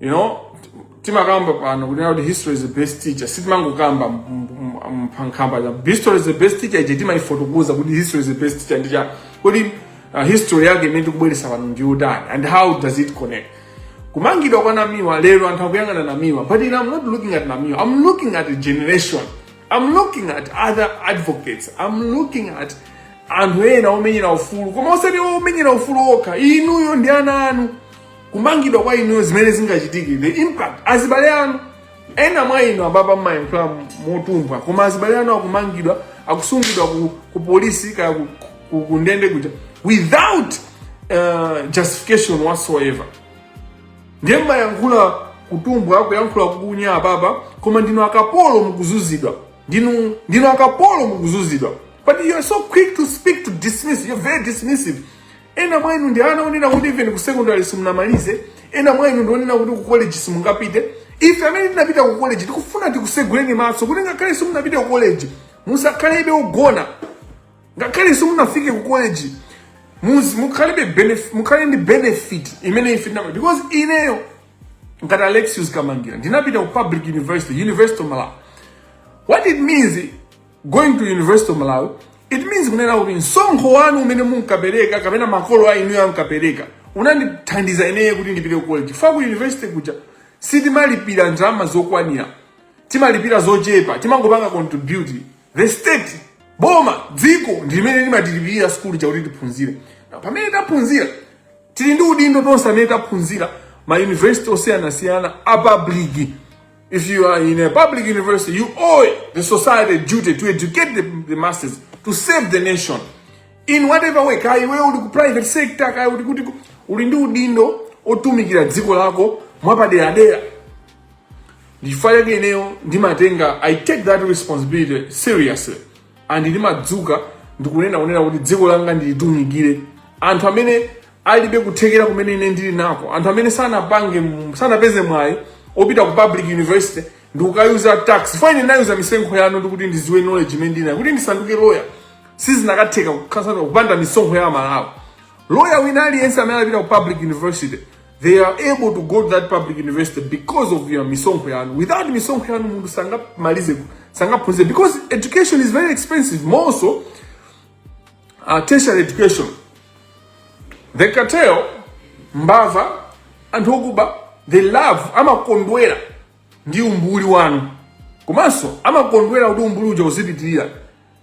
you know timakamba pano kuti kuti history is the best teacher sitimangokamba mphakamba chabe history is the best teacher ife timaifotokoza kuti history is the best teacher n'chifukwa kuti uh, history yake imene tikubweresa pano ndi yotani and how does it connect kumangidwa kwa namiwa lero anthu akuyang'ana namiwa but ine i'm not looking at namiwa i'm looking at a generation I'm looking at other advocates. I'm looking at anthu ena omenyera ufulu koma osati omenyera ufulu okha inuyo ndi ana anu kumangidwa kwa inuyo zimene zingachitike the impact azibale anu ena mwa inu apapa mmayankhula motumbwa koma azibale anu akumangidwa akusungidwa ku, ku polisi kaya ku, ku, ku ndende kuja without uh, justification whatsoever ndiye mmayankhula kutumbwa kuyankhula kukunya apapa koma ndinu akapolo mukuzuzidwa ndinu ndinu akapolo mukuzuzidwa but you are so quick to speak to dismiss you are very dismissive ena mwa inu ndi ana onena kuti even ku secondary simunamalize ena mwa inu ndi onena kuti ku college simungapite ife amene tinapita ku college tikufuna tikuseguleni maso kuti ngakhale simunapita ku college musakhalebe ogona ngakhale simunafike ku college muzi mukhalibe benef- mukhale ndi benefit imene ife tina because ineyo ngati alexius kamangila ndinapita ku public university university of malawi what it means going to university of malawi it means kunena kuti msonkho wanu umene munkapereka kapena makolo a inuyo ankapereka unandithandiza ineyo kuti ndipite ku college fa ku university kuja sitimalipira ndalama zokwanira timalipira zochepa timangopanga contribute the state boma dziko ndi limene limatilipirira sukulu kuti tiphunzire Na pamene taphunzira tili ndi udindo tonse amene taphunzira ma university osiyanasiyana a public if you are in a public university you owe the society a duty to educate the, the masses to serve the nation in whatever way kaya iwe uli ku private sector kaya uli kuti ku- uli ndi udindo otumikira dziko lako mwapaderadera ndichifukwa chake ineyo ndimatenga i take that responsibility seriously and ndimadzuka ndikunena kunena kuti dziko langa ndilitumikire anthu amene alibe kuthekera kumene ine ndili nako anthu amene sanapange m- sanapeze mwayi opita ku public university ndikukayuza tax fa ine ndinayuza misonkho yanu ndikuti ndiziwe knowledge imene ndinayo kuti ndisanduke lawyer sizinakatheka kuti ndisanduke kupanda misonkho ya amalawi lawyer wina aliyense amene anapita ku public university they are able to go to that public university because of your misonkho yanu without misonkho yanu munthu sangamalize sangaphunzire because education is very expensive more so uh, tertiary education the cartel mbava anthu okuba they love amakondwera ndi umbuli wanu komanso amakondwera kuti umbuli uja uzipitirira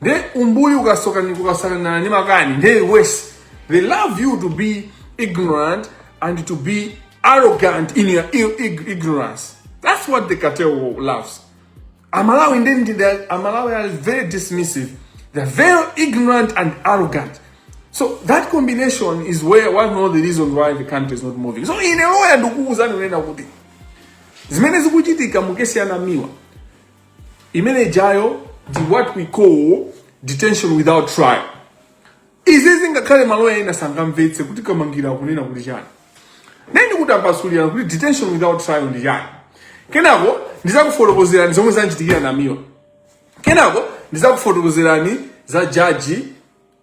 nde umbuli ukasoka ndikukasanana ndi makani nde worse they love you to be ignorant and to be arrogant in your i- ig- ignorance that's what the cartel loves amalawi nde ndi the- amalawi are very dismissive they're very ignorant and arrogant so that combination is where one of the reasons why the country is not moving so ine loya ndikuwuzani kunena kuti zimene zikuchitika mukesi ya Namiwa imene ija iyo ndi what we call detention without trial izi zingakhale maloya ena sangamvetse kuti Kamangila akunena kuti chani nde ndikutambasulirani kuti detention without trial ndi chani kenako ndizakufotokozerani zomwe zamuchitikira namiwa kenako ndizakufotokozerani za jaji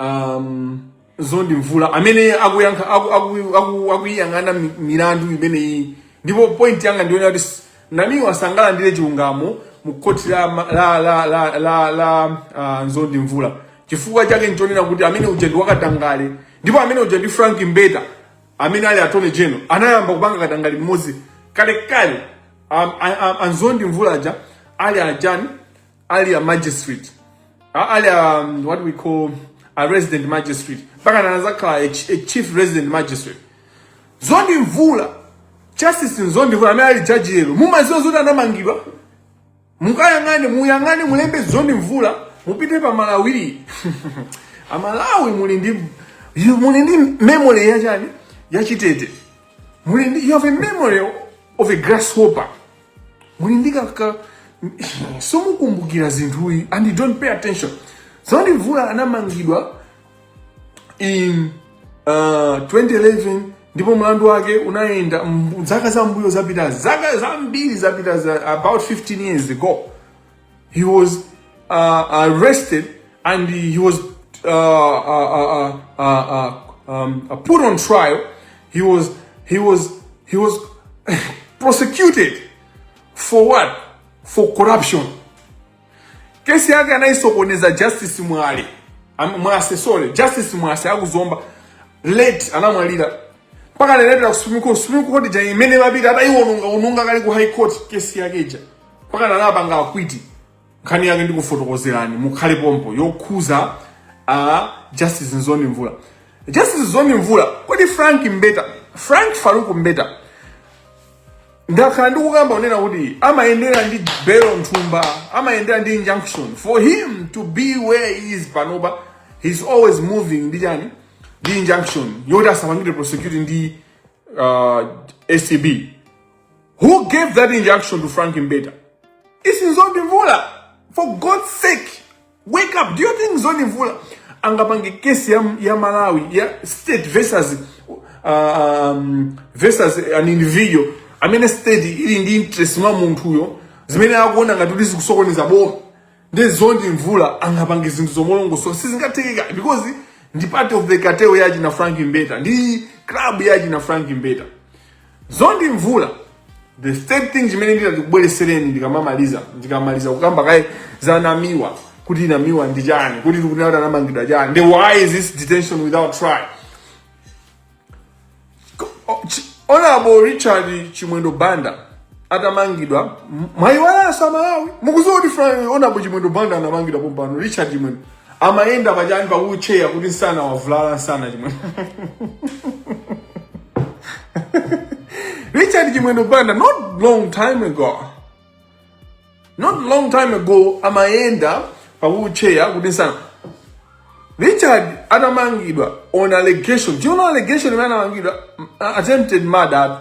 um, Nzondi mvula amene akuyankha aku- aku- aku- akuyiyang'ana mi- milandu imeneyi ndipo point yanga ndi yonena kuti s- namiwa sangalandire chilungamo mu khoti la, ma- la, la, la, la, la uh, nzondi mvula chifukwa chake nchonena kuti amene uja ndi wakatangale ndipo amene uja ndi frank mbeta amene ali attorney general anayamba kupanga katangale limodzi kalekale um, a- a- anzondi mvula aja ali ajani ali a magistrate a- ali a, um, what we call a resident magistrate mpaka anazakhala a, ch- a chief resident magistrate Nzondi mvula justice nzondi mvula amene ali jaji lero mumaziwa zoti anamangidwa mukayang'ane muyang'ane mulembe Nzondi mvula mupite pa Malawi amalawi muli ndi you- muli ndi memory ya chani ya chitete muli ndi you have a memory of a grasshopper muli ndi kaka somukumbukira zinthu izi and you don't pay attention Nzondi Mvula anamangidwa in uh, 2011 ndipo mlandu wake unayenda zaka zambuyo zapitazi zaka zambiri zapitazi about 15 years ago He was uh, arrested and he was uh, uh, uh, uh um, put on trial. He was he was he was prosecuted for what? For corruption. Kesi yake anaisokoneza Justice Mwale. Mwase sorry, Justice Mwase akuzomba late anamwalira mpaka lero ku Supreme Court. Supreme Court ja imene mapita ataiwononga ononga kali ku High Court kesi yake ija. mpakana anapanga acquit nkhani yake ndikufotokozerani mukhale pompo yokhuza a justice Nzondi Mvula justice Nzondi Mvula kodi frank mbeta frank faruku mbeta ndakhala ndikukamba kunena kuti amayendera ndi belo mthumba amayendera ndi injunction for him to be where he is panopa he's always moving ndi chani ndi injunction yoti asapangidwe prosecute ndi uh, acb Who gave that injunction to Frank Mbeta? It's Nzondi Mvula. For God's sake, wake up. Do you think Nzondi Mvula angapange kesi ya, ya Malawi ya state versus uh, um, versus an individual amene state ili ndi interest mwa munthuyo zimene akuona ngati kuti zikusokoneza boma nde Nzondi Mvula angapange zinthu zolongosoka sizingatheke because ndi part of the cartel ya achina Frank Mbeta ndi club ya achina Frank Mbeta Nzondi Mvula. The third thing chimene nditi ndikubweresereni ndikamamaliza ndikamaliza kukamba kaye za namiwa kuti namiwa ndi chani kuti tikunena anamangidwa chani then why is this detention without trial honorable richard chimwendo banda atamangidwa mwayiwalanso amalawi mukuziwa kuti honorable chimwendo banda anamangidwa pompano richard chimwendo amayenda pachani pa wheelchair kuti nsana wavulala nsana chimwendo richard chimwendo banda not long time ago not long time ago amayenda pa wheelchair kuti nsana richard atamangidwa on allegation do you know allegation imene anamangidwa attempted murder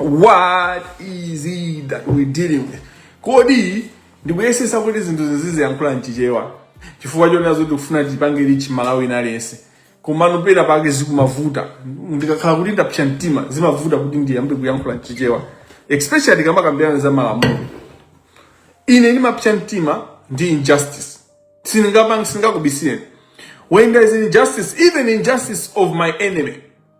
what is it that we're dealing with kodi ndikuyesesa kuti zinthu zizi ndiziyankhula mchichewa chifukwa chonena zoti kufuna tipange reach mmalawi wina aliyense komano pena pake zikumavuta ndikakhala kuti ndapsa mtima zimavuta kuti ndiyambe kuyankhula mchichewa especially tikamakambirana za malamulo ine ndimapsa mtima ndi injustice sindingakubisireni when there is injustice even injustice of my enemy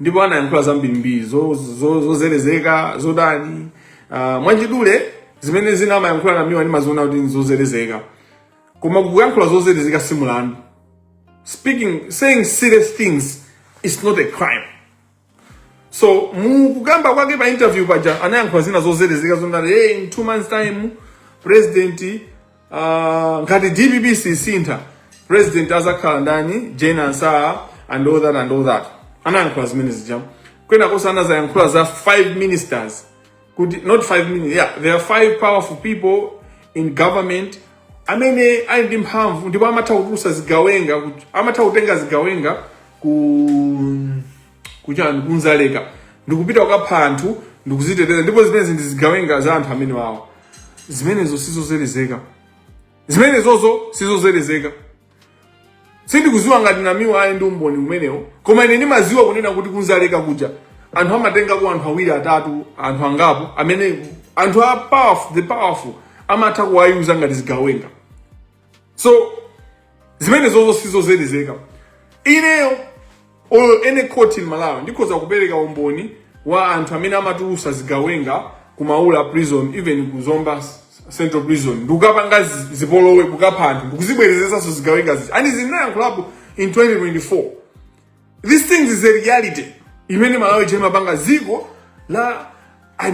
ndipo anayankhula zambirimbiri zozelezeka zotani uh, ah, mwachidule zimene zina amayankhula namiwa ndimaziona kuti nzozelezeka koma kuyankhula zozelezeka si mulandu speaking saying silly things is not a crime so mukukamba kwake pa interview paja anayankhula zina zozelezeka zonati eh, in two months time president Uh, ngati dpp sisintha president azakhala ndani jane ansah and all that and all that anayankhula zimene zija kwenakonso anazayankhula za five ministers kuti not five ministers yeah there are five powerful people in government amene ali ndi mphamvu ndipo amatha kutulusa zigawenga kuti- amatha kutenga zigawenga ku kuchani ku dzaleka ndikupita kukapha anthu ndikuziteteza ndipo zimenezi ndi zigawenga za anthu amene wawo zimenezo sizozelezeka zimenezozo sizozelezeka sindikuziwa ngati namiwa ali ndi umboni umenewo koma ine ndimaziwa kunena kuti ku dzaleka kuja anthu amatengako anthu awiri atatu anthu angapo amene anthu a powerful the powerful amatha kuwa-user ngati zigawenga so zimenezozo sizozelezeka ineyo on any court in malawi ndikhoza kupereka umboni wa anthu amene amatulusa zigawenga ku maula prison even ku zomba s- central prison ndikukapanga zi- zipolowe kukapha anthu ndikuzibwerezesanso zigawenga zija and ndinayankhulapo in 2024 These things is a reality. Imene Malawi chema panga ziko la I,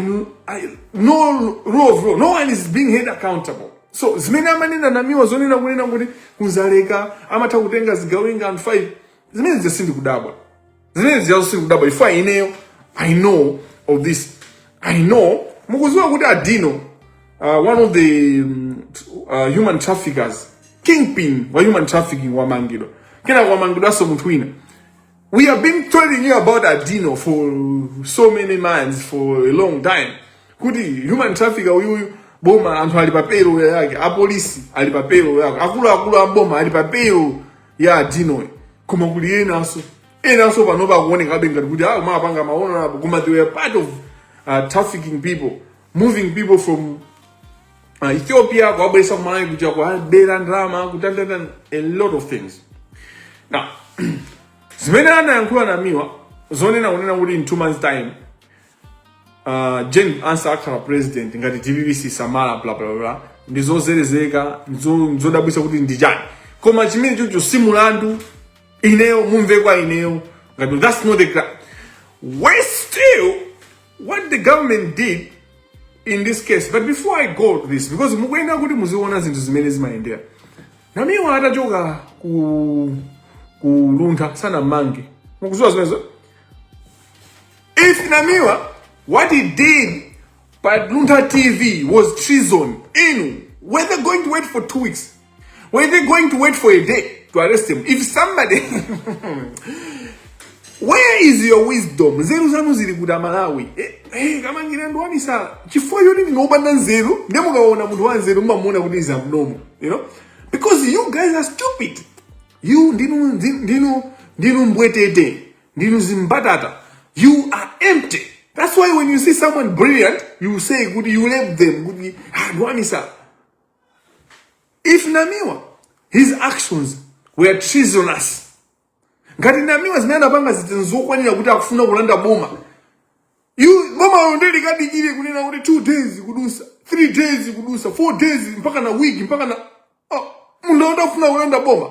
I, no rule of law. No one is being held accountable. So zimene amanena namiwa zonena kunena kuti ku Dzaleka amatha kutenga zigawenga and five zimene zija sindikudabwa zimene zijazo sindikudabwa ifo ineyo I know of this I know mukuziwa kuti adino uh, one of the um, uh, human traffickers kingpin wa human trafficking wamangidwa kena wamangidwanso munthu wina we have been telling you about adino for so many months for a long time kuti human trafficker uyuyu boma anthu ali pa payroll yake apolisi ali pa payroll yake akuluakulu a boma ali pa payroll ya adinoyo koma kuli enanso enanso panopa akuonekabe ngati kuti awo ah, mapanga maono apo koma they were part of uh, trafficking people moving people from uh, Ethiopia kuwabweresa kumalawi kuja kuwabera ndalama kutandata a lot of things now zimene anayankhula namiwa zonena kunena kuti in two months time uh, Jane Ansah akhala president ngati dpp sisamala bla bla bla ndi zozerezeka nzodabwisa kuti ndi chani koma chimenechocho si mulandu ineyo mumve kwa ineyo ngati that's not the we still what the government did in this case but before i go to this because mukuyenera kuti muziona zinthu zimene zimayendera namiwa atachoka ku Luntha sanamange mukuziwa zimenezo if namiwa what he did pa luntha tv was treason inu were they going to wait for two weeks Were they going to wait for a day to arrest him? If somebody... Where is your wisdom? Nzeru zanu zili kuti amalawi. Eh, eh, Kamangila ndo wamisala. Chifukwa yoti ndinu opanda nzeru, ndiye mukaona munthu wa nzeru mumamuona kuti is abnormal, you know? Because you guys are stupid. You ndinu ndinu ndinu mbwetete, ndinu zimbatata. You are empty. That's why when you see someone brilliant, you say kuti you label them kuti ah, ndo wamisala. if namiwa his actions were treasonous ngati namiwa zimene anapanga zija nzokwanira kuti akufuna kulanda boma You- bomalo nde likadikire kunena kuti two days kudusa three days kudusa four days mpaka na week mpaka na oh, munthu akuti akufuna kulanda boma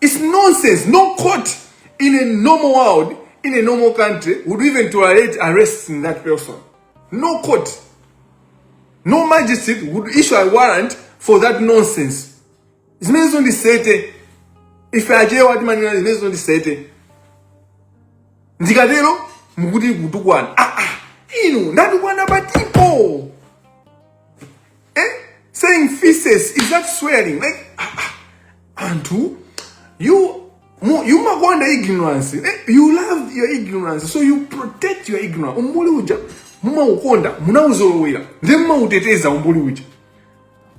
It's nonsense. No court in a normal world, in a normal country, would even tolerate arresting that person. No court. No magistrate would issue a warrant for that nonsense. Zimenezo ndi nsete. Ife Achewa timanena zimenezo ndi nsete. Ndikatero mukuti kutukwana. Ah ah. Inu ndatukwana patipo. Eh? Saying feces, is that swearing? Like, ah, ah, Antu, you, you makwanda ignorance. Eh? You love your ignorance, so you protect your ignorance. Umbuli uja, muma ukonda, muna uzolowela. Then muma uteteza umbuli uja.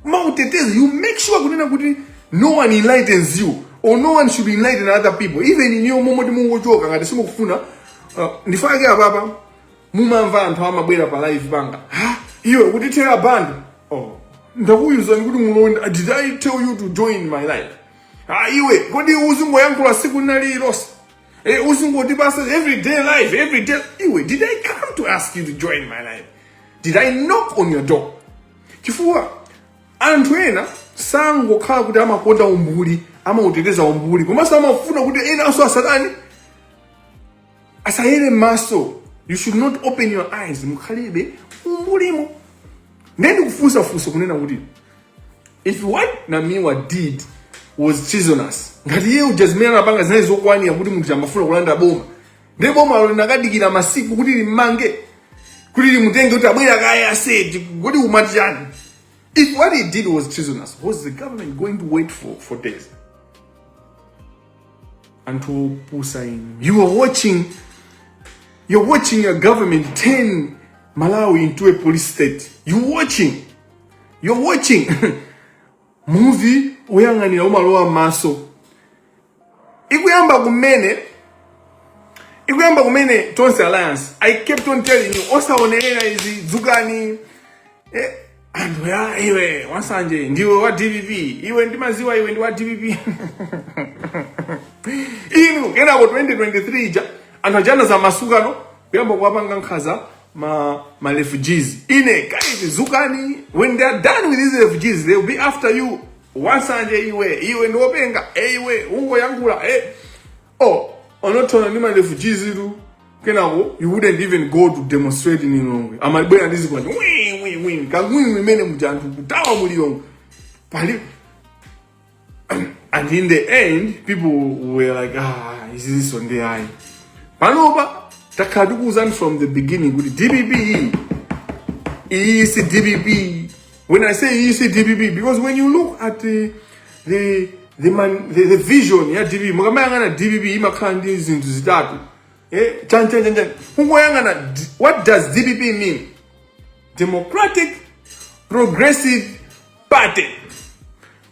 Muma uteteza, you make sure kunena kuti no one enlightens you. Or no one should enlighten other people. Even in your moment mungochoka, ngati simukufuna, uh, ndifake ababa, mumamva anthu amabwera pa live kumapanga ha iwe ukutithera bando oh ndakuwuzani kuti mulonda did i tell you to join my live ha iwe kodi uzingoyankhula tsiku linali lonse e uzingotipasa every day live every day iwe did i come to ask you to join my live did i knock on your door chifukwa anthu ena sangokhala kuti amakonda umbuli amauteteza umbuli komanso amafuna kuti enanso asatani asayere mmaso you should not open your eyes mukhalebe umbulimo ndiye ndikufunsa funso kunena kuti if what namiwa did was treasonous ngati iye uja zimene anapanga zinali zokwanira kuti munthu amafuna kulanda boma ndiye bomalo linakadikira masiku kuti lidzammange kuti lidzamutenge kuti abwere kaye aseti kuti amati chani if what he did was treasonous was the government going to wait for, for days anthu opusa inu you are watching you're watching a government turn malawi into a police state you watching you're watching muvi woyang'anira umalowa m'maso ikuyamba kumene ikuyamba kumene tonse alliance i kept on telling you musaonerere izi dzukani eh, anthu ya iwe wasanje ndiwe wa dpp iwe ndimaziwa iwe ndiwe wa dpp inu kenako 2023 ja anthu aja anazamasukano kuyamba kuwapanga nkhaza ma ma refugees ine guys dzukani when they are done with these refugees they will be after you wasanje iwe iwe ndiopenga eh, iwe ungoyankhula eh. oh ukunothona ndi ma refugees tu kenako you wouldn't even go to demonstrate in Lilongwe amabwera ndi zikwanje wii wii wii kangwini imene muja anthu kuthawa mu Lilongwe paja and in the end people were like ah izinso nde ayi panopa takhala tikuwuzani from the beginning kuti dpp iyi si dpp When I say iyi si DPP, because when you look at the, the, the, man, the, the vision ya DPP, mukamayang'ana DPP imakhala ndi zinthu zitatu. Eh, chan chan chan chan. Kungoyang'ana, d- what does DPP mean? Democratic Progressive Party.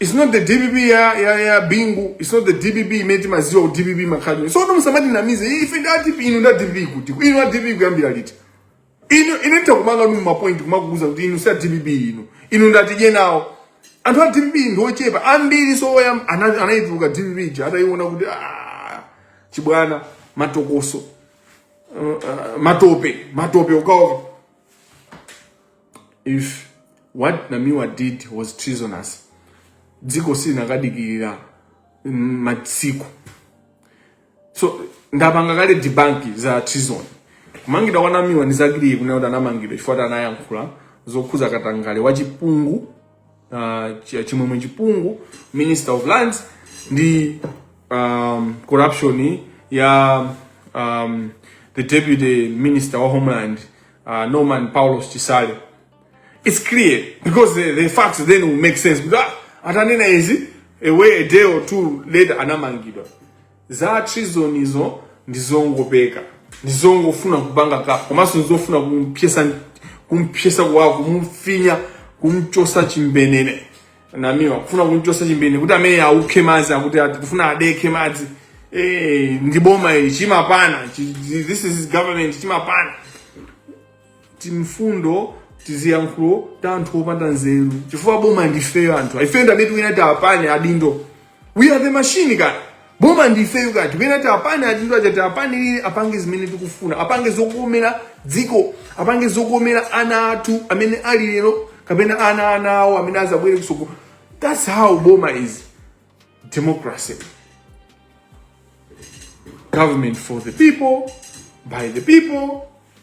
It's not the DPP ya, ya, ya Bingu. It's not the DPP imene timaziwa ku DPP makhalidwe. So no musamatinamize ife nda DPP inu nda DPP kuti. Inu nda DPP kuyambira liti. Inu ine nitakupangani mapoint kumakuuza kuti inu sa DPP inu. Inu ndatidye nawo. Anthu a DPP ndi ochepa ambiri nso oyam ana- anayituluka DPP ija atayiona kuti ah chibwana matokoso. Uh, uh, matope, matope ukaoka. if what namiwa did was treasonous dziko silinakadikirira mm, matsiku so ndapanga kale debunk za treason kumangidwa kwa namiwa ndi za clear kunena kuti anamangidwa chifukwa kuti anayankhula zokhuza katangale wa chipungu uh, chi- chimwemwe chipungu minister of lands ndi um, corruption ya um, the deputy minister wa homeland uh, Norman Paulos Chisale. It's clear because the, the facts then will make sense. Because atanena izi a way a day or two later anamangidwa. Za treason izo ndizongopeka. Ndizongofuna kupanga ka komanso ndizofuna kumpyesa kumpyesa kwa kumfinya kumchosa chimbenene. namiwa kufuna kumchosa chimbenene kuti amene aukhe madzi akuti kufuna adekhe madzi eh ndi boma ili chimapana this is government chimapana timfundo tiziyankhulo ta anthu opanda nzeru chifukwa boma ndifeyo anthu ifeyo ndamene tikuyenera tiwapane adindo we are the machine kaya boma ndifeyo ka tikuyenera tiwapane adindo aja tiwapanirire apange zimene tikufuna apange zokomera dziko apange zokomera ana athu amene ali lero kapena ana ana awo amene azabwere kusogolo that's how boma is democracy government for the people by the people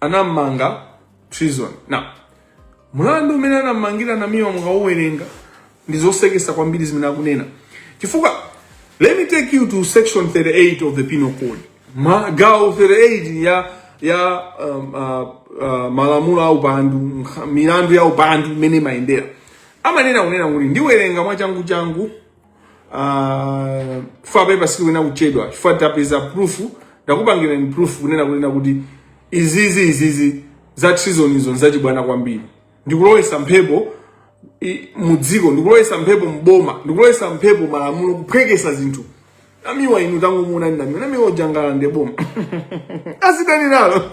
anammanga treason now mlandu umene anammangira namiwa mukauwerenga ndi zosekesa kwambiri zimene akunena chifukwa let me take you to section 38 of the penal code Ma, gawo 38 ya ya um, uh, uh, malamulo a upandu nkha- milandu ya upandu imene imayendera amanena kunena kuti ndiwerenga mwachangu changu Ah, chifukwa papa sikuyenera kuchedwa chifukwa tapeza proof ndakupangirani proof kunena kunena kuti izizi izizi za treason izo nzachibwana kwambiri ndikulowesa mphepo i- mu dziko ndikulowesa mphepo mboma ndikulowesa mphepo malamulo kuphwekesa zinthu namiwa inu tangomuonani namiwa namiwa uja angalande boma azitani nalo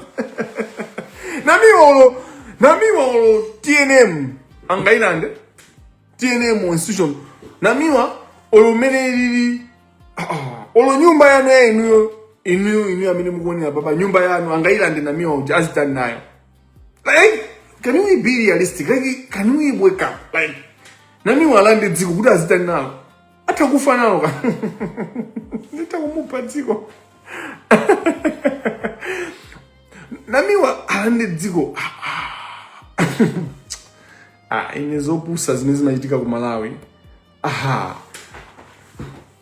namiwa olo namiwa olo tnm angailande tnm institution namiwa olo mmene ilili olo nyumba yanu ya inuyo inuyo inuyo amene mukuonera papa nyumba yanu angayilande namiwa uja azitani nayo like can we be realistic like can we wake up like namiwa alande dziko kuti azitani nalo atha kufa nalo ka nditha kumupha dziko namiwa alande dziko ah, ine zopusa zimene zimachitika ku malawi aha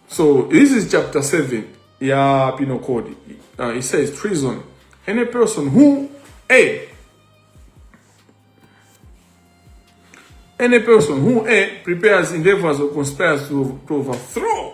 so this is chapter 7 ya penal code uh, it says treason any person who a any person who a prepares endeavors or conspires to, to overthrow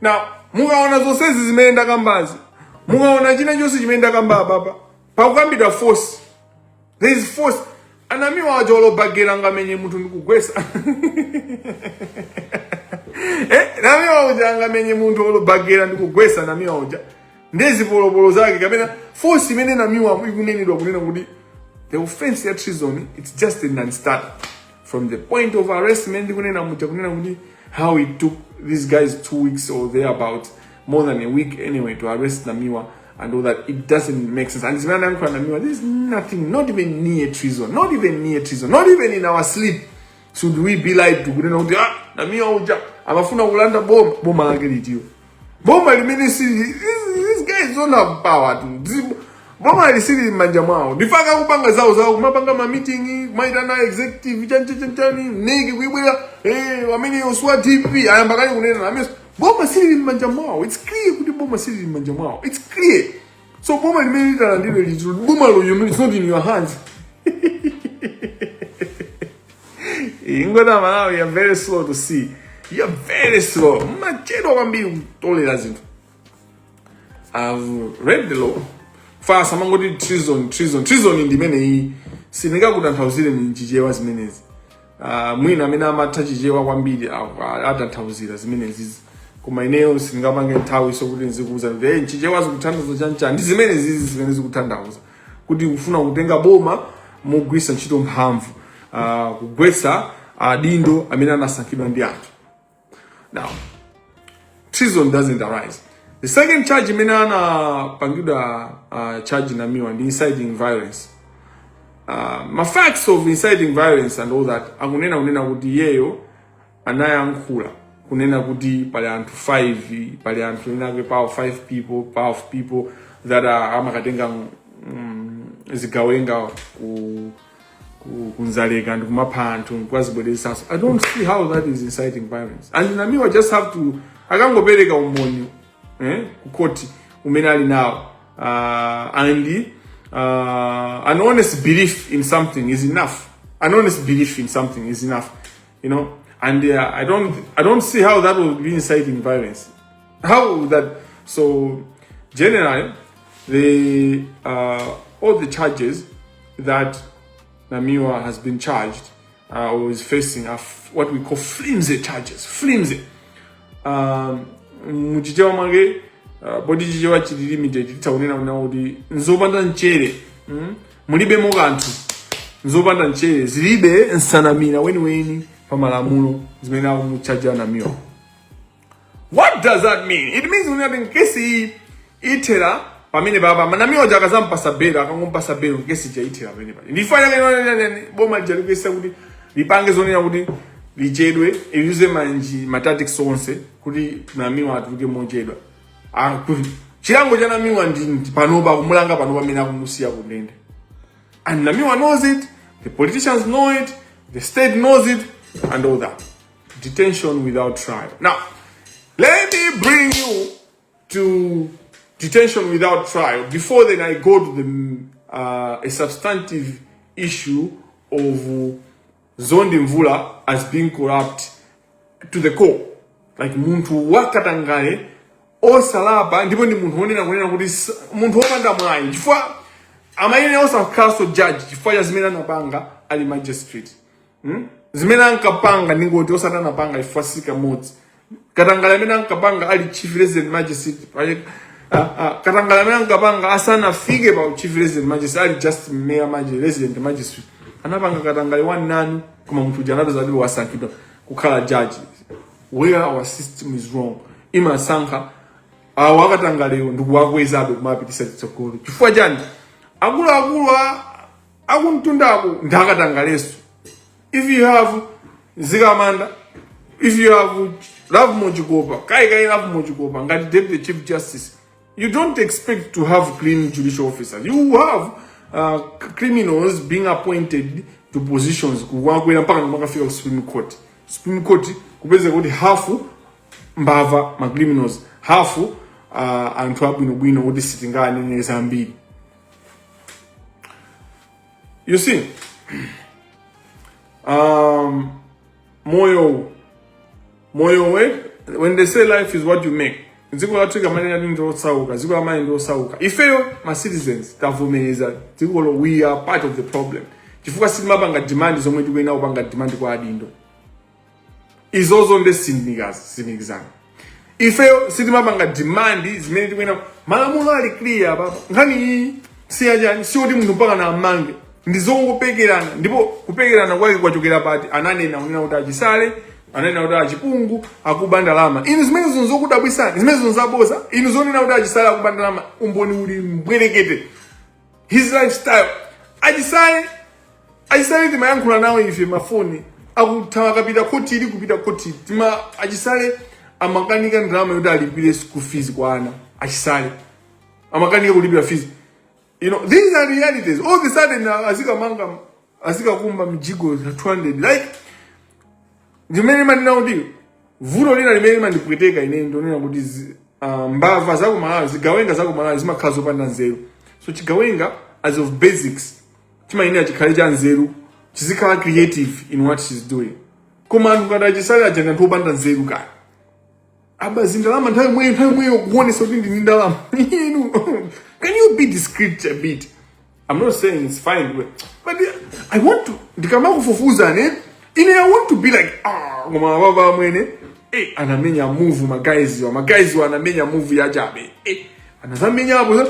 now mukaona zonsezi zimene ndakambazi mukaona china chonse chimene ndakamba apapa pakukambidwa force there is force a namiwa aja olo bakera angamenye munthu ndikugwesa eh, namiwa uja angamenye munthu olo bakera ndikugwesa namiwa uja ndi zipolopolo zake kapena force imene namiwa ikunenedwa kunena kuti the offense ya treason it's just a non-starter from the point of arrest imene ndikunena muja kunena kuti how it took these guys two weeks or there about more than a week anyway to arrest namiwa and all that it doesn't make sense and zimene anayankhula namiwa there's nothing not even near treason not even near treason not even in our sleep should we be lied to kunena kuti ah namiwa uja amafuna kulanda boma boma lake litiyo boma limene sili these guys don't have power to bomali silili m'manja mwawo ndi chifukwa akupanga zawo zawo kumapanga ma meeting kumaitana executive chancha chanchani mneki kuibwera eh amene uswa dpp ayamba kale kunena amene boma silili m'manja mwawo it's clear kuti boma silili m'manja mwawo it's clear so boma limene litalandire liziro boma loyo it's not in your hands kungoti amalawi you're very slow to see you're very slow mumachedwa kwambiri kutolera zinthu i've read the law chifukwa samangoti treason treason treason ndi imeneyi sindingakutanthauzireni mchichewa zimenezi Ah, mwina amene amatha chichewa kwambiri a- a- atanthauzira zimenezizi koma ineyo sindingapange nthawiso kuti nzikuuza kuti mchichewa zikutanthauza chanchani ndi zimenezizi zimene zikutanthauza kuti kufuna kutenga boma mogwiritsa ntchito mphamvu ah, kugwetsa adindo amene anasankhidwa ndi anthu Now, treason doesn't arise. The second charge imene anapangidwa uh, charge namiwa ndi inciting violence. Uh, ma facts of inciting violence and all that akunena kunena kuti iyeyo anayankhula kunena kuti pali anthu 5 pali anthu enaake powerful people powerful people that are amakatenga mm, zigawenga ku ku- kunzaleka ndi kumapha anthu nkuwazibweresanso i don't see how that is inciting violence and namiwa just have to akangopereka umboni eh, ku court umene ali nawo uh, and uh, an honest belief in something is enough an honest belief in something is enough you know and uh, i don't i don't see how that would be inciting violence All that. So generally, the uh, all the charges that Namiwa has been charged uh, or is facing are what we call flimsy charges. Flimsy. Um, muchichewa mwake uh, poti chichewa chili limited titha kunena kunena kuti nzopanda mchere mm? mulibemo kanthu nzopanda mchere zilibe nsanamira weniweni pa malamulo zimene akumuchaja namiwa what does that mean it means kuti ngati nkesi ithera pamenepapa a namiwa aja akazampasa belo akangompasa belo nkesi ija ithera pamenepapa ndifanya kanani boma lija likuyesa kuti lipange zonena kuti lichedwe liyuze manji ma tactics onse kuti namiwa atuluke mochedwa Ah, kuti chilango cha namiwa ndi ndi panopa kumulanga panopa mmene akumusiya kundende and namiwa knows it the politicians know it the state knows it and all that Detention without trial. Now, let me bring you to detention without trial. Before then, I go to the, uh, a substantive issue of Mzondi Mvula as being corrupt to the core. Like munthu wakatangale osalapa ndipo ndi munthu wonena kunena kuti s- munthu wopanda mwayi chifukwa amayenera osakhalanso judge chifukwa cha zimene anapanga ali magistrate hmm? zimene ankapanga ndingoti osati anapanga chifukwa si kamodzi katangale amene ankapanga ali chief resident magistrate pale- ah, ah, katangale amene ankapanga asanafike pa chief resident magistrate ali just mere magi- resident magistrate anapanga katangale wanani koma munthu uja anapeza kuti wasankhidwa kukhala judge where our system is wrong imasankha awo akatangalewo ndikuwakwezabe kumapitisa chitsogolo chifukwa chani akuluakulu a- akumtundako ndi akatangaleso if you have Mzikamanda if you have Lovemore Chikopa kaikai Lovemore Chikopa ngati deputy chief justice you don't expect to have clean judicial officers you have uh, criminals being appointed to positions kumakwera mpaka kumakafika ku supreme court supreme court kupezeka kuti hafu mbava ma criminals hafu uh, anthu abwinobwino kuti sitinganene zambiri You see, um, moyo, moyo, eh? when they say life is what you make, dziko lathuli akamanena kuti ndi losauka dziko la Malawi ndi losauka ifeyo ma citizens tavomereza dzikolo we are part of the problem chifukwa sitimapanga demand zomwe tikuyenera kupanga demand kwa adindo izozo nde sindikazi sindikizana ifeyo sitimapanga demand zimene tikuyenera malamulo ali clear apapa nkhani iyi siyachani siyoti munthu mpakana amange ndi zongopekerana ndipo kupekerana kwake kwachokera pati ananena kunena kuti achisale ananena kuti achipungu akuba ndalama inu zimenezo nzokudabwisani zimenezo nzaboza inu zonena kuti achisale akuba ndalama umboni uli mbwerekete his lifestyle achisale achisale timayankhula nawo ife mafoni akuthawa akapita khotili kupita khotili tima achisale amakanika ndalama yoti alipire school fees kwa ana achisale amakanika kulipira fees you know these are realities all of a sudden uh, azikamanga azikakumba mijigo 200 like zimene ndimanena kuti vuto lina limene limandipweteka ine ndonena kuti zi- ah, mbava za kumalawi zigawenga za kumalawi zimakhala zopanda nzeru so chigawenga as of basics chimayenera chikhale cha nzeru chizikhala creative in what she's doing koma anthu ngati achisale aja ndi anthu opanda nzeru kaya aba zindalama nthawi yomweyo nthawi yomweyo kuonesa kuti ndini ndalama inu can you be discreet a bit i'm not saying it's fine but but i want to ndikamakufufuza ne ine i want to be like ah koma baba amwene eh anamenya move magayizi awa magayizi awa anamenya move ya chabe eh anazamenya apo za-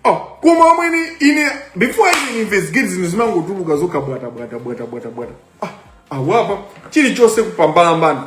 oh koma amwene ine before i even investigate zinthu zimangotuluka zokha bwata bwata bwata bwata bwata ah awapa chilichonse kupambalambana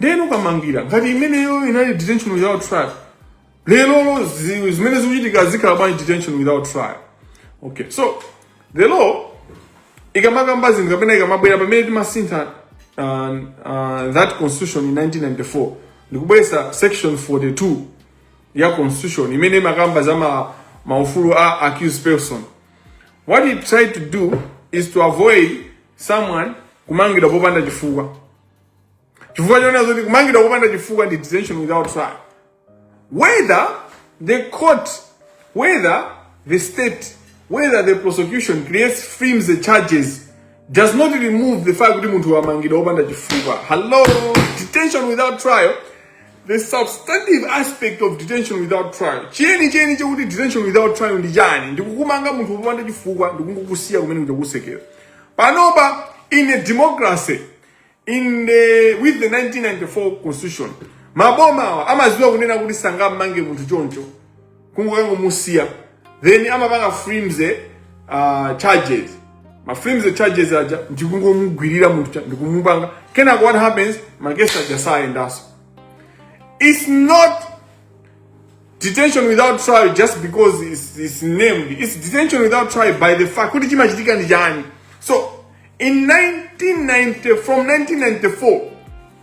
ndiyeno kamangira ngati imeneyo inali detention without trial lero zi- zimene zikuchitika zisakhala bwanji detention without trial okay so the law ikamakamba zinthu kapena ikamabwera pamene timasintha uh, uh, that constitution in 1994 ndikubweretsa section 42 ya constitution imene imakamba za ma, maufulu a accused person what it tried to do is to avoid someone kumangidwa popanda chifukwa chifukwa chonena zoti kumangidwa popanda chifukwa ndi detention without trial whether the court whether the state whether the prosecution creates frames the charges does not remove the fact kuti munthu wamangidwa wopanda chifukwa hello detention without trial the substantive aspect of detention without trial chiyeni chiyeni chekuti detention without trial ndi chani ndikumumanga munthu wopanda chifukwa ndikungokusiya kumene kuja ku cell panopa in a democracy in the with the 1994 constitution maboma awa amadziwa kunena kuti sangammange munthu choncho kungokangomusiya then amapanga flimsy uh, charges ma flimsy charges aja ndikungomugwirira munthu ndikumupanga kenako what happens makesi aja sayendanso it's not detention without trial just because it's, it's named it's detention without trial by the fact kuti chimachitika ndi chani so In 1990, from 1994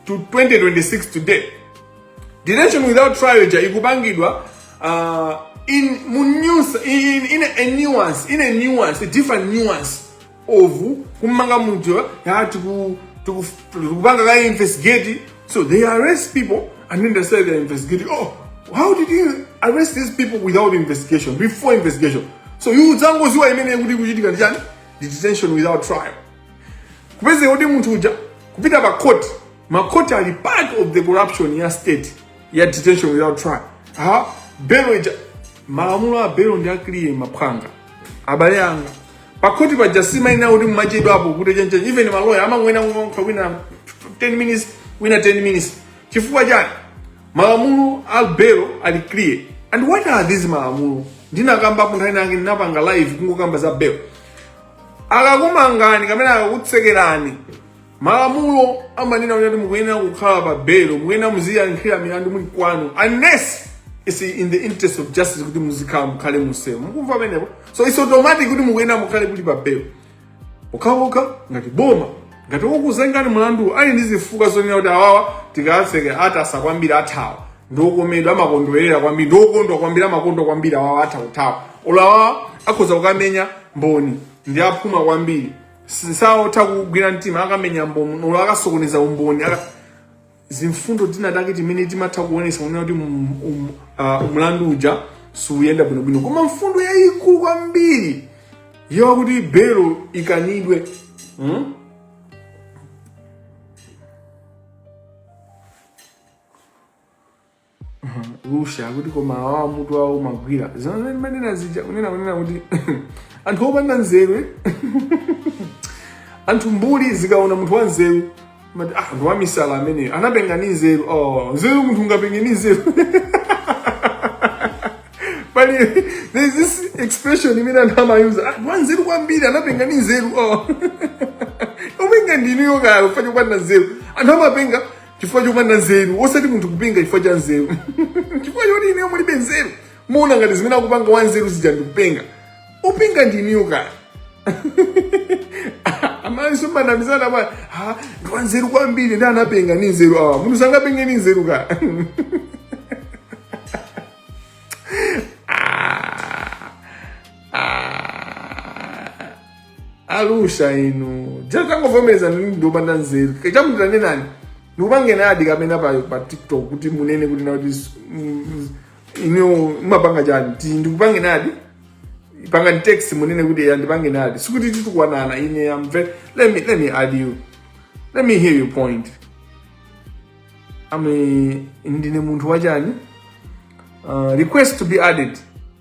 to 2026 today, detention without trial ija ikupangidwa uh, in mu nuance in, in a nuance in a nuance a different nuance of kumanga munthu ya tiku tiku tikupanga ka investigate so they arrest people and then they say they're investigating oh how did you arrest these people without investigation before investigation so you udzangoziwa imene kuti ikuchitika ndi chani detention without trial kupezeka kuti munthu uja kupita pa court ma court ali part of the corruption ya state ya detention without trial ha belo ija malamulo a belo ndi a clear maphwanga abale anga pa court paja si maina oti mmachedwapo kuti chenchen even maloya amangonena okay wina 10 minutes wina 10 minutes chifukwa chani malamulo a belo ali clear and what are these malamulo ndinakambapo nthawi nange ndinapanga live kungokamba za belo akakumangani kapena akakutsekerani malamulo amanena kuti mukuyenera kukhala pa belo mukuyenera muziyankhira milandu muli kwanu unless it's in the interest of justice kuti muzikhala mukhale muselo mukumva pamenepo so it's automatic kuti mukuyenera mukhale kuli pa belo pokhapokha ngati boma ngati okuzengani mlandu ali ndi zifukwa zonena kuti awawa tikawatseke atasa kwambiri athawa ndiokomedwa amakondwerera kwambiri ndiokondwa kwambiri amakonda kwambiri awawa atha kuthawa olo awawa akhoza kukamenya mboni ndi aphuma kwambiri saotha kugwira mtima akamenya mboni olo akasokoneza umboni aka- zimfundo zinazake zimene timatha kuonesa kunena kuti um, um, uh, mlandu uja siuyenda bwinobwino koma mfundo yayikulu kwambiri yakuti belo ikanidwe hmm? Alusha akuti koma awawa mutu wawo umagwira zimene mmanena zija kunena kunena kuti anthu opanda nzeru eh? anthu mbuli zikaona munthu wa nzeru mmati ah ndi wamisala ameneyo anapenga ni nzeru oh nzeru munthu ungapenge ni nzeru but there is this expression imene anthu amayuza ah ndi wa nzeru kwambiri anapenga ni nzeru oh openga ndinuyo kaya ifa ya kupanda nzeru anthu amapenga chifukwa chopanda nzeru osati munthu kupenga chifukwa cha nzeru chifukwa choti inuyo mulibe nzeru muona ngati zimene akupanga wa nzeru zija ndikupenga openga ndi inuyo kaya amaiso mmanamizana pa ha ndi wa nzeru kwambiri ndi anapenga ni nzeru awa munthu sangapenge ni nzeru kaya alusha inu tangovomerezani ndinu opanda nzeru chamuta nenani ndikupangeni adi kapena pa, pa tiktok kuti munene kuti na kuti s- m- m- inu mumapanga chani ti ndikupangeni adi pangani text munene kuti ya ndipangeni adi sikuti titukwanana ine am very let me let me add you let me hear your point ame ndinu munthu wachani uh, request to be added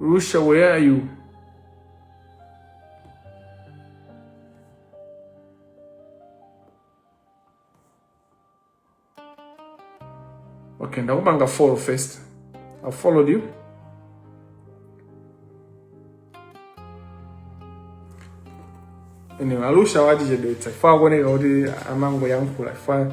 Rusha, where are you? Okay, ndakupangani follow first. I followed you. Anyway, Alusha watichedwetsa chifukwa akuoneka kuti amangoyankhula chifukwa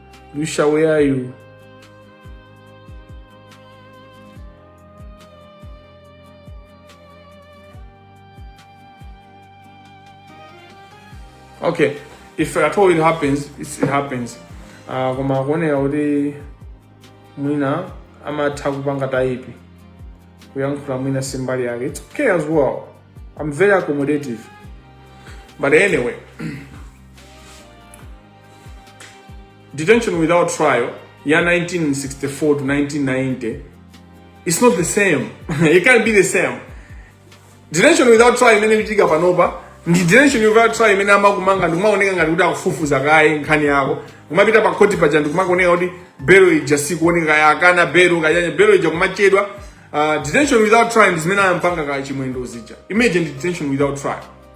You shall wear you. Okay, if at all it happens, it happens. Uh, koma akuoneka kuti mwina amatha kupanga taipi kuyankhula mwina simbali yake it's okay as well i'm very accommodative but anyway detention without trial ya 1964 to 1990 it's not the same it can't be the same detention without trial imene ikuchitika panopa ndi detention without trial imene amakumanga ndikumaoneka ngati kuti akufufuza kaye nkhani yako kumapita pa khoti paja ndikumakaoneka kuti belo ija sikuoneka kaya akana belo kayanya belo ija kumachedwa uh, detention without trial ndi zimene ampanga kaya chimwendo zija imagine detention without trial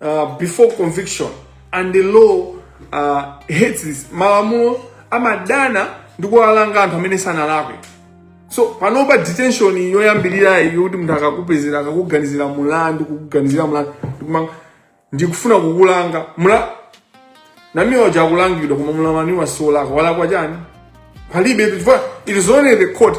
uh, before conviction and the law uh, hates this malamulo amadana ndi kuwalanga anthu amene sanalakwe so panopa detention yoyambirira iyo kuti munthu akakupezera akakuganizira mulandu kukuganizira mulandu ndikumanga ndikufuna kukulanga mula namiwa uja akulangidwa koma mulamani wosalakwa walakwa chani palibe chifukwa it is only the court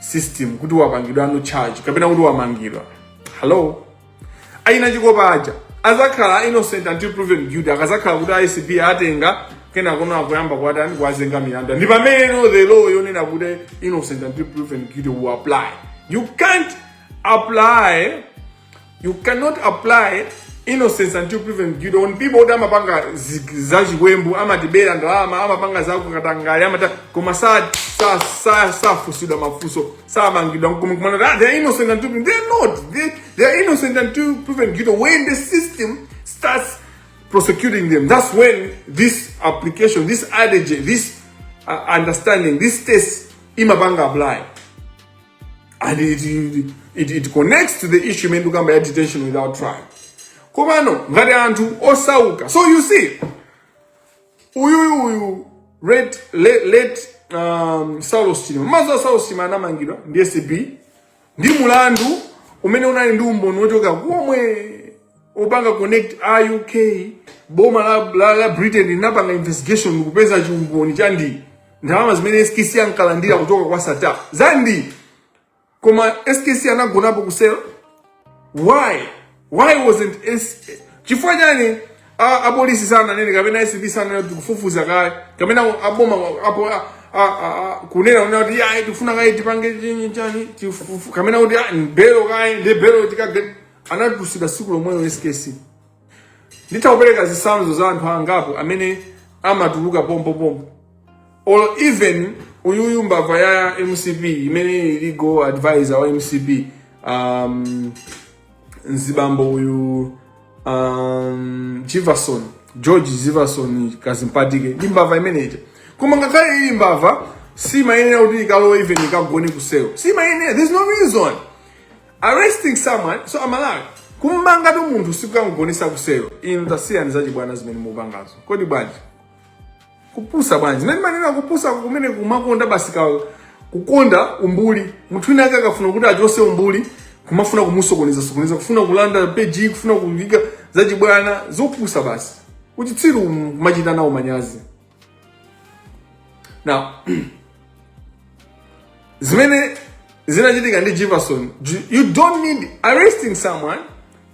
system kuti wapangidwa no charge kapena kuti wamangidwa hello aina chikopa aja azakhala innocent until proven guilty akazakhala kuti acb atenga kenakono akuyamba kuwatani kuwazenga milandu ndi pamene the law yonena kuti innocent until proven guilty will apply you can't apply you cannot apply innocence until proven guilty on people that amapanga zi- za chiwembu amatibera ndalama amapanga za kukatangale amaba koma sa- sa- sa- safunsidwa mafunso samangidwa nkumanena that they are innocent until proven they are not they, they are innocent until proven guilty when the system starts prosecuting them that's when this application this adage this uh, understanding this test imapanga apply and it, it, it connects to the issue imene tikukamba ya detention without trial komano ngati anthu osauka so you see uyuyu uyu late late, late um, saulos chilima mmadziwa a saulos chilima anamangidwa ndi acb ndi mulandu umene unali ndi umboni wochoka komwe opanga connect a uk boma la, la, la britain linapanga investigation ndikupeza chiumboni cha ndi ndalama zimene skc ankalandira kuchoka kwa sattar za ndi koma skc anagonapo kuselo why why wasn't S chifukwa chani a- apolisi sananene kapena acb sananene kuti kufufuza kaye kapena aboma apo a- a- a- a- kunena kunena kuti ayi tifuna kaye tipange chini chani tifufu- kapena kuti ah, belo kaye ndi belo tikagani anatulutsidwa tsiku lomwelo skc nditha kupereka zitsanzo za anthu angapo amene amatuluka pompopompo or even uyuyu mbava ya mcp imene ili legal advisor wa mcp um, mzibambo uyu um, jivason george jivason kadzipatike ndi mbava imeneja koma ngakhale ili mbava simayenera kuti ikalowe even ikagone kuselo simayenera there's no reason arresting someone so amalawi kummangatu munthu sikukangonesa kuselo inu tasiyani zachibwana zimene mupangazo kodi bwanji kupusa bwanji zimene manena kupusa kumene kumakonda basi ka kukonda umbuli munthu wina ake akafuna kuti achose umbuli kumafuna kumusokoneza sokoneza kufuna kulanda peji kufuna kuviga zachibwana zopusa basi uchitsiru kumachita nawo manyazi now zimene zinachitika ndi jefferson you don't need arresting someone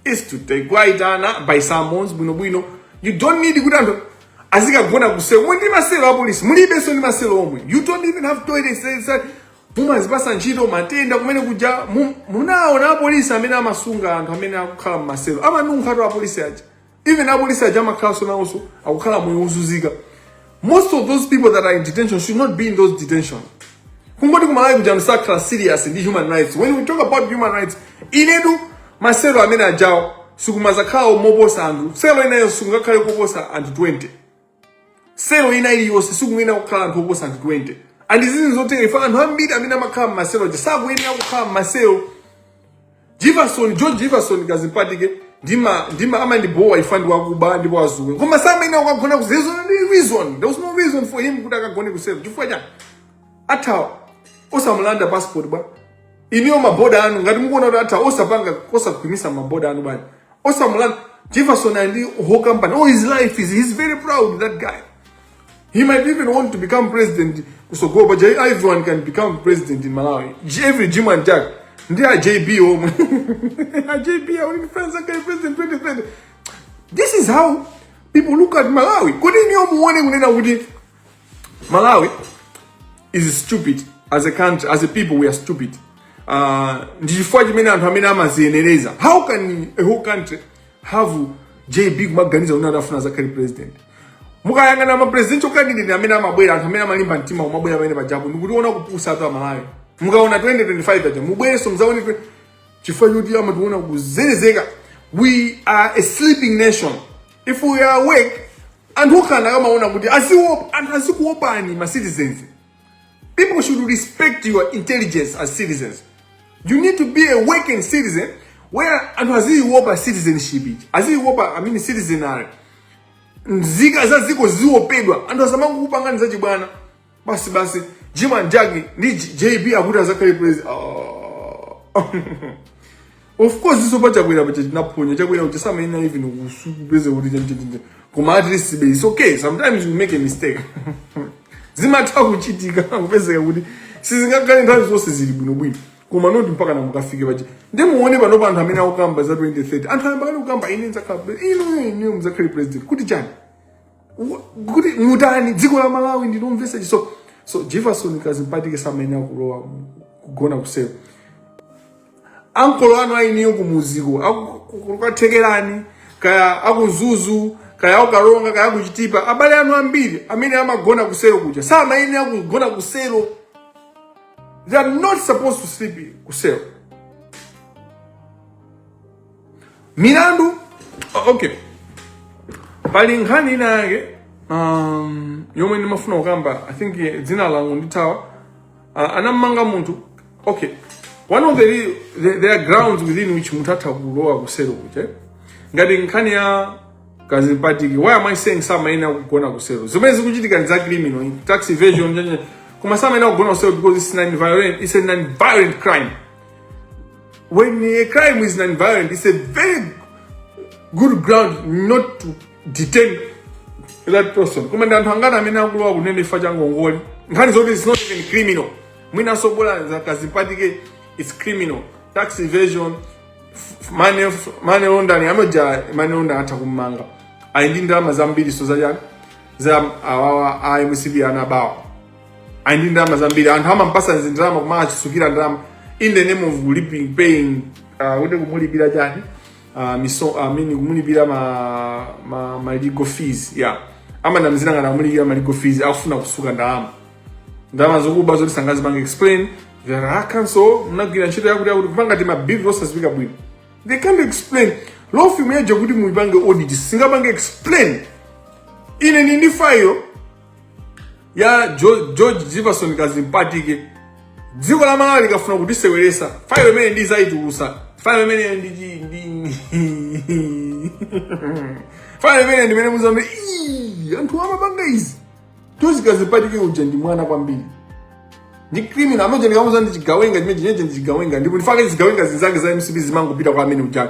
is to take kwaitana by summons bwinobwino you don't need kuti anthu azikagona kuselo mmene ndi maselo a polisi mulibenso ndi maselo omwe you don't even have toilets mumazipasa ntchito matenda kumene kuja munaona apolisi amene amasunga anthu amene akukhala mmaselo amanunkhatu apolisi aja even apolisi aja amakhalanso nawonso akukhala moyo wozunzika most of those people that are in detention should not be in those detention kungoti kumalawi kuja musakhala serious ndi human rights when we talk about human rights inetu maselo amene ajawo sikumazakhala moposa anthu selo inayo sikungakhale koposa anthu 20 selo ina iliyonse sikuyenera kukhala anthu oposa anthu 20 and zinthu zotere ife anthu ambiri amene amakhala mmaselo aja sakuyenera kukhala mmaselo jefferson george jefferson kazimpatike ndima ndima amandibowa ife ndi wakuba ndipo wazuwe koma samayenera kukagona ku there's no reason there was no reason for him kuti akagone ku selo chifukwa chani athawa osamulanda passport bwanji iyeyo maboda anu ngati mukuona kuti athawa osapanga osagwiritsa maboda anu bwana osamulanda jefferson ali ndi whole company oh his life is he's very proud that guy he might even want to become president kusogolo but J- everyone can become president in malawi J- every jim and jack ndi a jb omwe a jb ali ndi friends akale president 2030 this is how people look at malawi kodi niyo muone kunena kuti malawi is stupid as a country as a people we are stupid uh, ndi chifukwa chimene anthu amene amaziyenereza how can a whole country have jb kumaganiza kuti atafuna azakhale president mukayang'ana mapresidential candidate amene amabwera anthu amene amalimba mtima kumabwera pamene pajapo ndikuona kupusa kwathu amalawi mukaona 2025 paja mubwerenso mudzaone twe- chifukwa choti amationa kuzerezeka we are a sleeping nation if you are awoke anthu okhala akamaona kuti aziwo- anthu azikuopani ma citizens people should respect your intelligence as citizens you need to be awoken citizen where anthu aziiopa citizenship aziiopa i mean citizenry nzika za dziko ziopedwa anthu asamangokupangani zachibwana basi basi jimmy njagi ndi jb akuti azakhale president oh. of course iso pa chakwera pacha tinaphonya chakwera kuti samaina even kusupeze kuti chanjenjenje koma at least be it's okay sometimes you make a mistake zimatha kuchitika kupezeka kuti sizingakhale nthawi zonse zili bwinobwino koma noti mpaka na mukafike pacha ndiye muone pano pa anthu amene akukamba za 2030 anthu ayamba kale kukamba ine nzakhala ino ine mzakhale president kuti chani kuti mutani dziko la malawi ndi lomvesa chisoni so jefferson kazimpatike samayenera kulowa mu- kugona kusero ankolo anu a inuyo kumuziko akukathekerani kaya aku mzuzu kaya aku karonga kaya aku chitipa abale anu ambiri amene amagona kusero kuja samayenera kugona kusero they are not supposed to sleep kusero milandu o- okay pali nkhani ina yake um, yomwe ndimafuna kukamba i think eh, dzina langu ndithawa uh, anamanga munthu okay one of the, re- the there are grounds within which munthu atha kulowa kuselo kuja ngati nkhani ya kazimpatike why am i saying samayenera kugona kuselo zimene zikuchitika ndi za criminal in tax evasion njenje koma samayenera kugona kuselo because it's non violent it's a non violent crime when a crime is non-violent, it's a very good ground not to detain that person. Koma ndi anthu angati amene akulowa kundende chifukwa cha ngongole. Nkhani zoti it's not even criminal. Mwinanso bola za Kazimpatike it's criminal. Tax evasion, f- money f- money laundering, amene uja money laundering atha kummanga. Ali ndi ndalama zambiri so za chani? Za awawa a MCP anabawa. ali ndi ndalama zambiri anthu amampasa zindalama koma achisukira ndalama in the name of lipi- paying uh, kuti kumulipira chani uh, miso I mean kumulipira ma, ma, ma legal fees yeah amanamizira ngati akumulipira ma legal fees akufuna kusuka ndalama ndalama zokuba zoti sangazipange explain there a counsel mnagwira ntchito yakuti yakuti kupanga ti mabill osaziwika bwino they can't explain law firm yaja kuti muipange audit singapange explain ine ndi ndi file ya Jo- george jefferson kazimpatike dziko la malawi likafuna kutiseweresa fayo imene ndizayitulusa fayo imene ndi chi- ndi fayo imene ndimene muzayambe "Ii, anthu amapanga izi zoti kazimpatike uja ndi mwana kwambiri ndi criminal amene ndikamuza ndi chigawenga chimene chineche ndi chigawenga ndipo nchifukwa chake zigawenga zinzake za mcp zimangopita kwa amene uja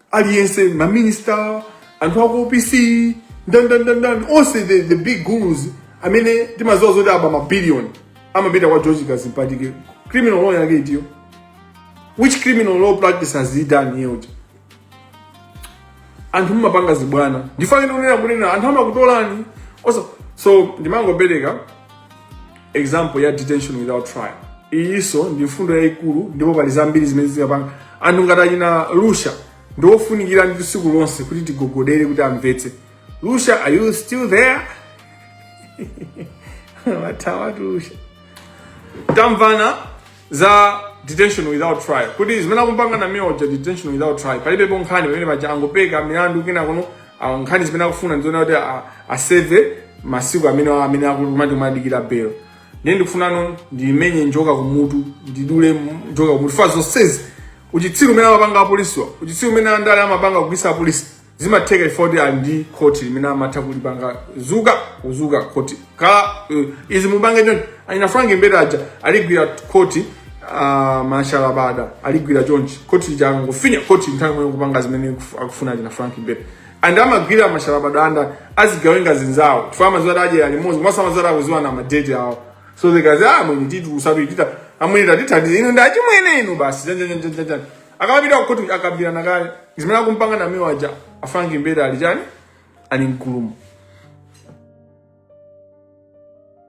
aliyense maminista anthu aku opc ndandandandan onse the, the big gurus amene timaziwa zoti aba mabiliyoni amapita kwa george kazimpatike criminal law yake itiyo which criminal law practice has he done here uja anthu mumapanga zibwana ndifanire unena kunena anthu amakutolani also so ndimangopereka example ya detention without trial iyinso ndi mfundo yayikulu ndipo pali zambiri zimene zikapanga anthu ngati achina lusha ndi ofunikira ndi tsiku lonse kuti tigogodere kuti amvetse lusha are you still there wathawa lusha tamvana za detention without trial kuti zimene akumpanga Namiwa uja detention without trial palibepo nkhani pamene paja angopeka milandu kina kuno ah, nkhani zimene akufuna ndizoona kuti ah, aseve masiku amene amene akumati akumadikira belo ndiye ndikufunano ndimenye njoka kumutu ndidule m- njoka kumutu chifukwa zonsezi uchitsiru umene amapanga apolisiwa uchitsiru umene andale amapanga kugwiritsa apolisi zimatheka ifoti ali ndi khoti limene amatha kulipanga zuka zuka khoti kala uh, izi mupange choncho achina Frank Mbeta aja aligwira khoti uh, mashalabada aligwira chonchi khoti lija akangofinya khoti nthawi imene kupanga zimene akuf- akufuna achina Frank Mbeta and amagwira mashalabada ndi azigawenga zinzawo chifukwa amaziwa kuti adyera limodzi mwaso amaziwa kuti akuziwa na madeti awo so zikazi a mwini tithandizeni musatichite amwene tatithandizani ine ndi achimwene inu basi janjanjanjanjan akamapita kukhoti akambirana kale zimene akumpanga Namiwa aja a Frank Mbeta ali chani ali mkulumu